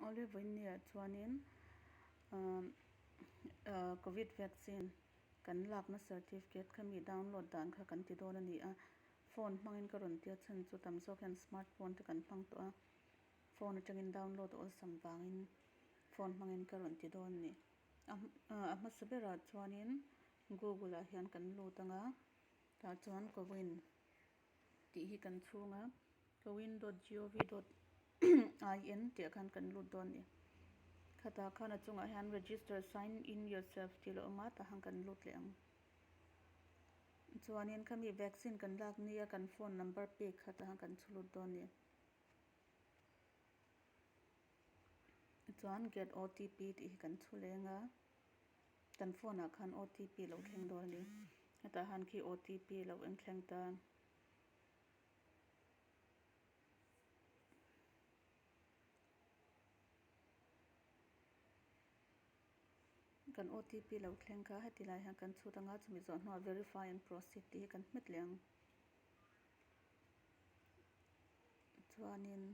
Olive Inniah chuanin Covid vaccine kan lakna certificate kha mi download dan kha kan ti dawn a ni a. Phone hmangin ka rawn ti a chhan chu tam zawk hian smart phone te kan hmang tawh a, phone atangin download awlsam vangin phone hmangin ka rawn ti dawn a ni. A hmasa berah chuanin Google-ah hian kan lut anga tah chuan Covid. tih hi kan chhung a, Kawin dot gov dot in tih ah khan kan lut dawn a ni. Khatah khan a chungah hian Register sign in yourself tih la awm a, tah khan kan lut leh ang. Chuanin khami vaccine kan lak nia kan phone number pek kha tah khan kan chhu lut dawn a ni. Chuan get OTP tih hi kan chhu leng a, kan phone ah khan OTP lo thleng dawn a ni. Hetah han khi OTP lo en thleng ta. Kan OTP lo thleng kha heti laiah hian kan chhut anga chumi zawh hnuah verify and proceed tih hi kan hmet leng. Chuanin.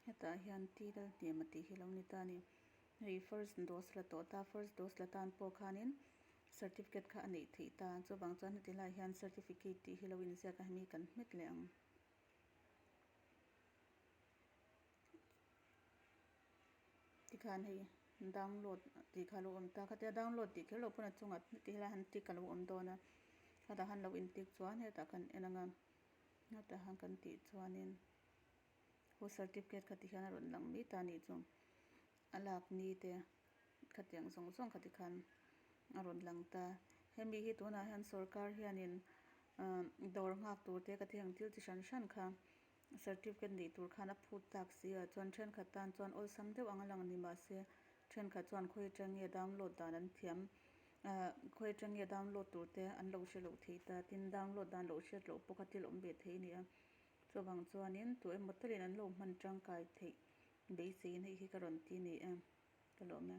Hetah hian ti lal hnem a tih hi lo ni ta a ni. Hei first dose la tawh ta, first dose la tan pawh khanin certificate kha a neih theih ta. Chuvang chuan heti lai hian certificate tih hi lo inziak a hemi kan hmet leh ang. Tikhan hei download tih kha lo awm ta. Khatia download tih kher loh pawn a chungah heti lai han tick a lo awm dawn a. Hetah han lo intick chuan hetah kan en ang a. Hetah hian kan tih chuanin. Aw certificate kha tihian a rawn lang mai ta nih chu a lak ni te khatiang zawng zawng kha tikhan a rawn lang ta hemi hi tunah hian sorkar hianin umm dawr nghak tur te ka thengin thil chi hran hran kha certificate nei tur khan a phut tak si a chuan thenkhat tan chuan awlsam deuh anga lang ni mahse thenkhat chuan khawi aṭangi a download dan an thiam ah khawi aṭangi a download tur te an lo hrelo thei ta tin download dan loh hriat loh pawh kha thil awm ve thei a ni a. Chuvang chuanin, Tu emaw talian an lo hman tangkai theih beiseiin hei hi ka rawn ti ni em? Ka lawm e.